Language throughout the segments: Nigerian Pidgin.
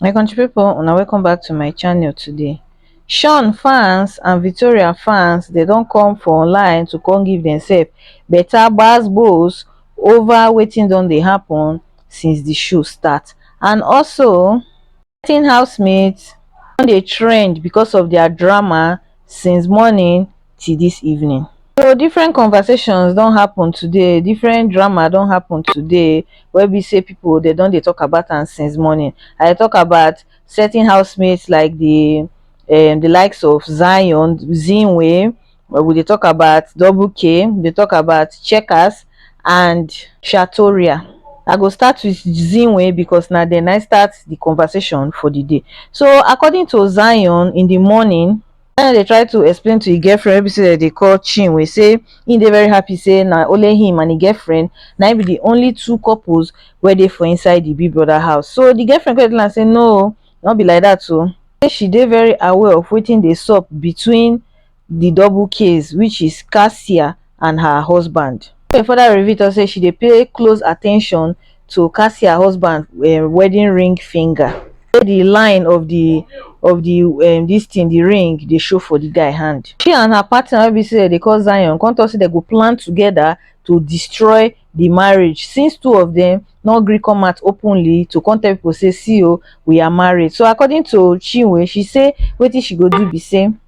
my country people una welcome back to my channel today sean fans and victoria fans they don't come for online to come give themselves better gbasgbos over waiting on they happen since the show start and also getting housemates don dey trend because of their drama since morning till this evening so different conversations don happen today different drama don happen today wey be say people dey don dey talk about am since morning i dey talk about certain housemates like the um the likes of zion, zinwe Well, we dey talk about double K, we dey talk about checkers and Shatoria. I go start with Zinwe because na then I start the conversation for the day. So according to Zion in the morning, Zion dey try to explain to his girlfriend wey be say dem dey call Chinwe say he dey very happy say na only him and his girlfriend na him be the only two couples wey dey for inside the big brother house. So the girlfriend come dey tell am say no, no be like that o. Oh. Say she dey very aware of wetin dey sup between di double case which is kassia and her husband. Tori further reveal tok say she dey pay close at ten tion to kassia husband um wedding ring finger say di line of di of di um dis tin di ring dey show for di guy hand. She and her partner wey be say dem dey call Zion come tok say dem go plan togeda to destroy di marriage since two of dem no gree come out openly to come tell pipo say see o we are married so according to chinwe she say wetin she go do be say.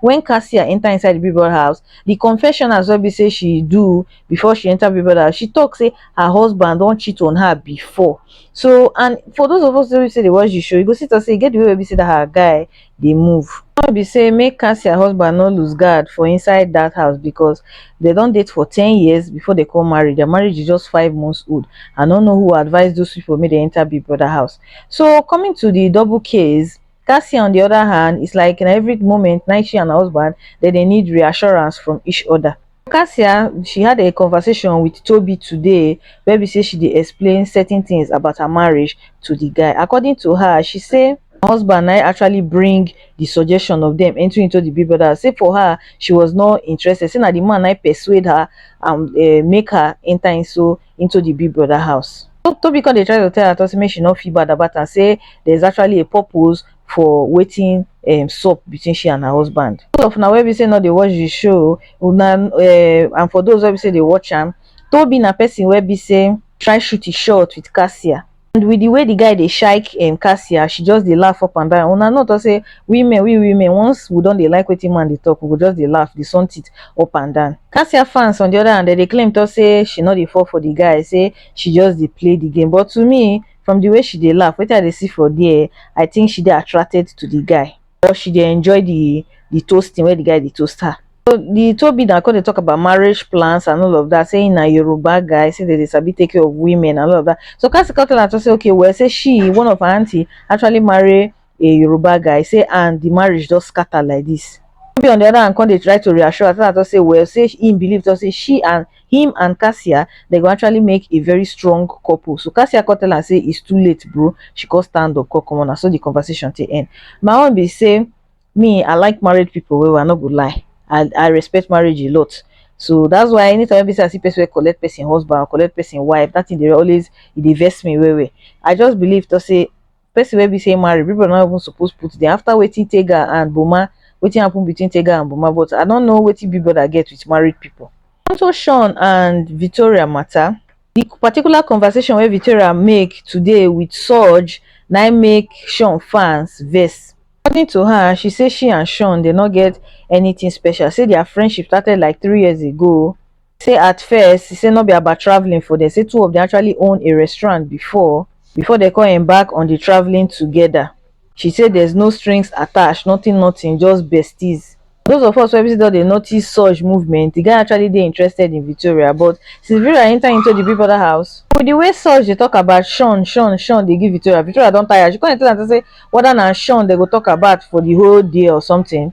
when kassia enter inside the big brother house the confessionals wey be say she do before she enter big brother house she talk say her husband don cheat on her before so and for those of us wey be say dey watch the show you go see talk say e get the way wey be say that her guy dey move wey be say make kassia husband no lose guard for inside that house because they don date for ten years before they come marry their marriage is just five months old i no know who advise those people make they enter big brother house so coming to the double case cassie on di oda hand is like na evri moment na she and her husband dem dey need reassurance from each oda cassie she had a conversation wit tobi today wey be say she dey explain certain tins about her marriage to di guy according to her she say her husband na im actually bring di suggestion of dem entering into di big brother say for her she was not interested say na di man na im persuade her and make her enta into into the big brother house. Toby come dey try to tell Ato say make she no feel bad about am say there is actually a purpose for wetin um, sup between she and her husband. Those of una wey be say no dey watch the show una um, and for those wey be say dey watch am, Toby na person wey be say try shoot his shot with Cassia. and with the way the guy dey shake um, cassia she just dey laugh up and down una know talk say women we women once we don dey like wetin man dey talk we go just dey laugh dey sunt it up and down cassia fans on the other hand dem dey claim talk say she no dey fall for the guy say she just dey play the game but to me from the way she dey laugh wetin i dey see for there i think she dey attracted to the guy or she dey enjoy the the toasting where the guy dey toast her. So the Toby now come dey talk about marriage plans and all of that, saying na Yoruba guy, say they dey sabi take care of women and all of that. So Kasi come tell her to say, okay, well, say she, one of her auntie, actually marry a Yoruba guy, say, and the marriage just scatter like this. Toby on the other hand come dey try to reassure her, tell her to say, well, say he believe to say she and him and Cassia they go actually make a very strong couple so Cassia come tell am say it's too late bro she come stand up come comot na so the conversation take end my own be say me I like married people well I no go lie I I respect marriage a lot so that's why anytime wey be say I see person wey collect person husband or collect person wife that thing dey always e dey vex me well well I just believe to say person wey be say marry big brother no even suppose put there after wetin tega and boma wetin happen between tega and boma but i no know wetin big brother get with married people onto shawn and victoria matter the particular conversation wey victoria make today with sooj na im make shawn fans vex according to her she say she and shawn dey no get anything special say their friendship started like three years ago say at first he say no be about travelling for dem say two of dem actually own a restaurant before before dem come embark on di travelling togeda she say there's no strings attached nothing nothing just besties those of us wey be say don dey notice surge movement di guy actually dey interested in Victoria but since Victoria enter into di Big Brother house with di way surge dey talk about Shaun Shaun Shaun dey give Victoria Victoria don tire she come dey tell am say whether na Shaun dem go talk about for di whole day or something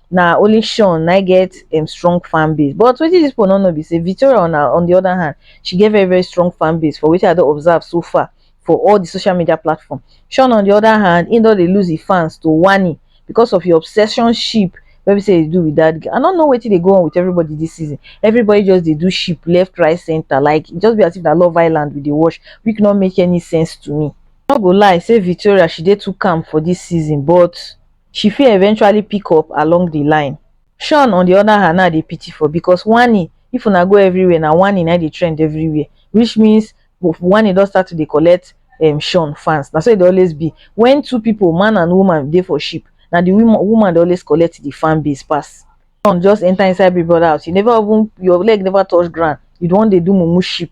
na only Sean na get um, strong fan base but wetin dis people no know be say Victoria on, her, on the other hand she get very very strong fan base for wetin I don observe so far for all the social media platform Sean on the other hand he don dey lose his fans to Wani because of his obsession ship wey be say dey do with that girl i no know wetin dey go on with everybody this season everybody just dey do ship left right center like e just be as if na love island we dey watch which no make any sense to me i no go lie say victoria she dey too calm for this season but she fit eventually pick up along di line shawn on di oda hand na dey pity for becos wanni if una go evriwia na wanni na dey trend evriwia which means wanni don start to dey collect um shawn fans na so e dey always be wen two pipo man and woman dey for ship na di woman dey always collect di fan base pass shawn just enta inside big brother house you neva even your leg neva touch ground you wan dey do mumu ship.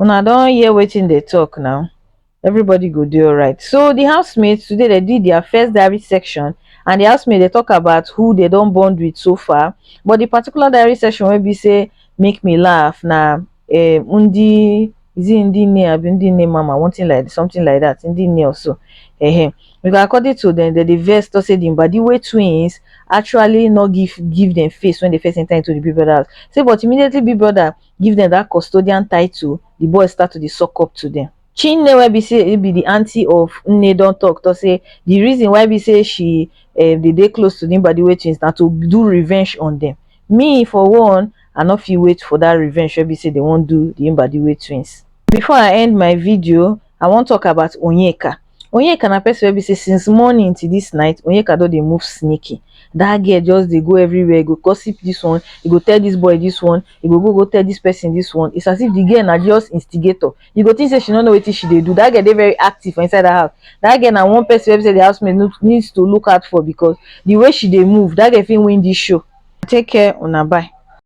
una don hear wetin dey talk now everybody go dey alright so the housemates today they did their first diary section and the housemates they talk about who they don't bond with so far but the particular diary section will be say make me laugh now um eh, undi is it undi ne abi undi ne mama one thing like something like that undi ne also uh-huh. because according to them the, the verse to say the body way twins actually not give give them face when they first enter into the big brother house say but immediately big brother give dem that custodian title, the boys start to dey suck up to them. Chinne wey be say e be the aunty of Nne don talk talk say the reason why be say she eh, dey dey close to the Mbadiwe twins na to do revenge on them. Me for one, I no fit wait for that revenge wey be say they wan do the Mbadiwe twins. Before I end my video, I wan talk about Onyeka. Onyeka na person wey be say since morning till this night, Onyeka don dey move sneaky. That girl just dey go everywhere, e go gossip this one, e go tell this boy this one, e go go go tell this person this one. It's as if the girl na just instigator. You go think say she no know wetin she dey do. That girl dey very active for inside that house. That girl na one person wey be say the house mate no need to look out for because the way she dey move, that girl fit win this show. Take care, una bye.